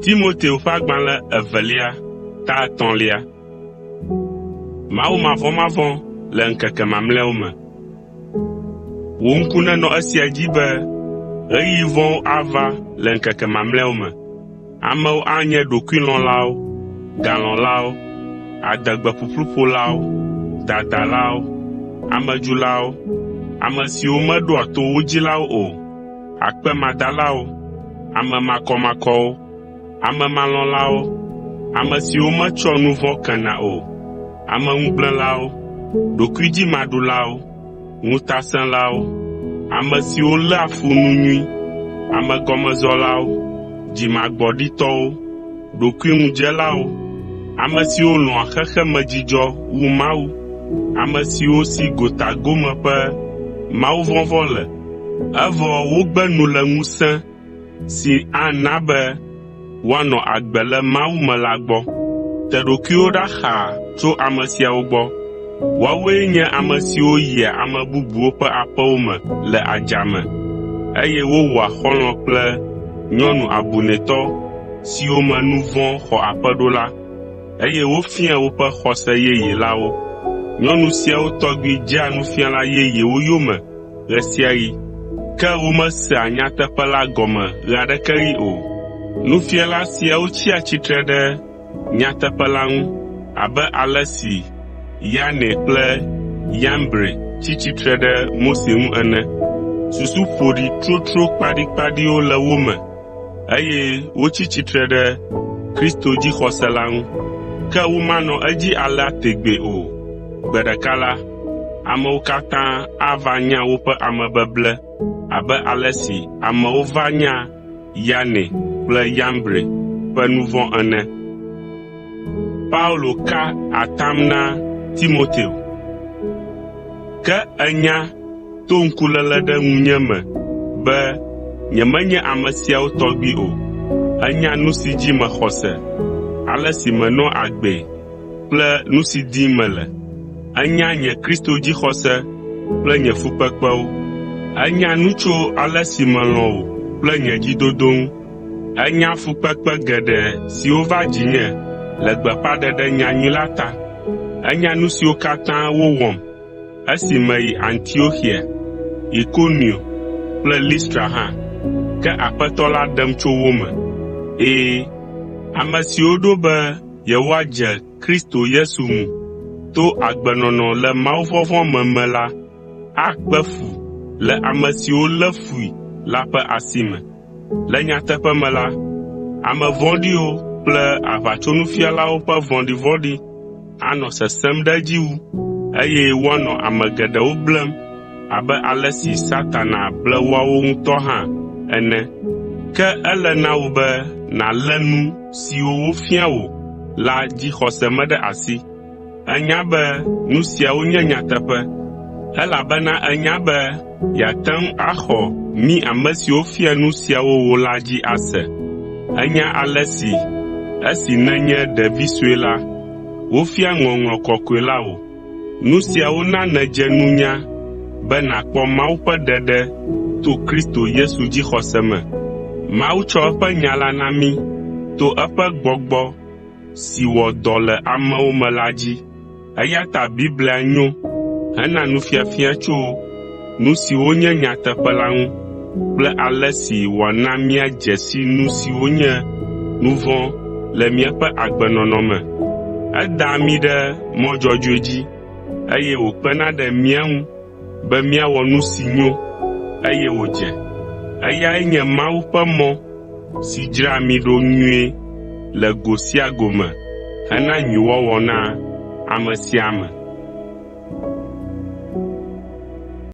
Timoteo ƒe agbalẽ evelia ta etɔ̃lia. Mawu mavɔmavɔ̃ le ŋkeke mamlɛawo me. Wò ŋku nenɔ esia dzi be ɣeyiɣi vɔ̃wo ava le ŋkeke mamlɛawo me. Amewo anye ɖokuilɔ̃lawo, galɔ̃lawo, adegbeƒuƒluƒolawo, dadalawo, amedzulawo, ame siwo meɖoa to wo dzilawo o, akpemadalawo, ame makɔmakɔwo, amemalɔ̃lawo, ame siwo metsɔa nu vɔ̃ kena o, ameŋugblẽlawo, ɖokuidzimaɖulawo, ŋutasẽlawo, ame siwo léa fu nu nyui, amegɔmezɔlawo, dzimagbɔɖitɔwo, ɖokuiŋudzelawo, ame siwo lɔ̃a xexemedzidzɔ wu Mawu, ame siwo si gotagome ƒe mawuvɔvɔ̃ le, evɔ wogbe nu le ŋusẽ si ana be woanɔ agbe le Mawu me la gbɔ. Te ɖokuiwò ɖa xaa tso ame siawo gbɔ. Woawoe nye ame siwo yia ame bubuwo ƒe aƒewo me le adzame, eye wowɔa xɔlɔ̃ kple nyɔnu abunɛtɔ siwo me nu vɔ̃ xɔ aƒe ɖo la, eye wofiaa woƒe xɔse yeye la wo. Nyɔnu siawo tɔgbi dzea nufiala yeyewo yome ɣe sia ɣi, ke womesea nyateƒe la gɔme ɣe aɖeke ɣi o. Nufiala siawo tsia tsitre ɖe nyateƒe la ŋu abe ale si Yane kple Yambre tsi tsitre ɖe Mose ŋu ene. Susu ƒoɖi tsotso kpaɖikpaɖiwo le wo me eye wotsi tsitre ɖe Kristo dzixɔse la ŋu. Ke womanɔ edzi alea tegbee o. Gbe ɖeka la, amewo katã ava nya woƒe amebeble abe ale si amewo va nya Yane kple Yambre ƒe nu vɔ̃ ene. Ke ènya, to ŋkuléle ɖe ŋunye me be nyemenye ame siawo tɔgbi o. Ènya nu si dzi mexɔ se, ale si menɔa agbee kple nu si dim mele. Ènya nye Kristo dzixɔse kple nye fukpekpewo. Ènya nu tso ale si melɔ̃ wò kple nye dzidodo ŋu. Ènya fukpekpe geɖe siwo va dzinye le gbeƒãɖeɖe nyanyui la ta. Ènya nu siwo katã wowɔm Esi meyi Antioxia, Ikonio kple Listra hã, ke Aƒetɔ la ɖem tso wo me. Ɛ̃, ame siwo ɖo be yewoadze Kristo Yesu ŋu to agbenɔnɔ le mawuvɔvɔ̃ me me la akpe fu le ame siwo lé fui la ƒe asi me. Le nyateƒe me la, ame vɔ̃ɖiwo kple aʋatsonufialawo ƒe vɔ̃ɖivɔ̃ɖi anɔ sesẽm ɖe edzi wu, eye woanɔ ame geɖewo blem abe ale si Satana ble woawo ŋutɔ hã ene. Ke ele na wò be nàlé nu siwo wofia wò la dzixɔse me ɖe asi. Ènya be nu siawo nye nyateƒe, elabena ènya be yeate ŋu axɔ mí ame siwo fia nu siawo wò la dzi ase. Ènya ale si esi nènye ɖevi sue la, wofia ŋɔŋlɔ kɔkɔe la wò. Nu siawo na nèdze nunya be nàkpɔ Mawu ƒe ɖeɖe to Kristo Yesu dzixɔse me. Mawu tsɔ eƒe nya la na mí to eƒe gbɔgbɔ si wɔ dɔ le amewo me la dzi. Eya ta Biblia nyo hena nufiafia tso nu siwo nye nyateƒe la ŋu kple ale si wòana míadze si nu siwo nye nu vɔ̃ le míaƒe agbenɔnɔ me. Edaa mí ɖe mɔ dzɔdzɔe dzi eye wòkpena ɖe mía ŋu be míawɔ nu si nyo eye wòdze. Eyae nye Mawu ƒe mɔ si dzraa mí ɖo nyuie le go sia go me hena nyuiwɔwɔ na ame sia ame.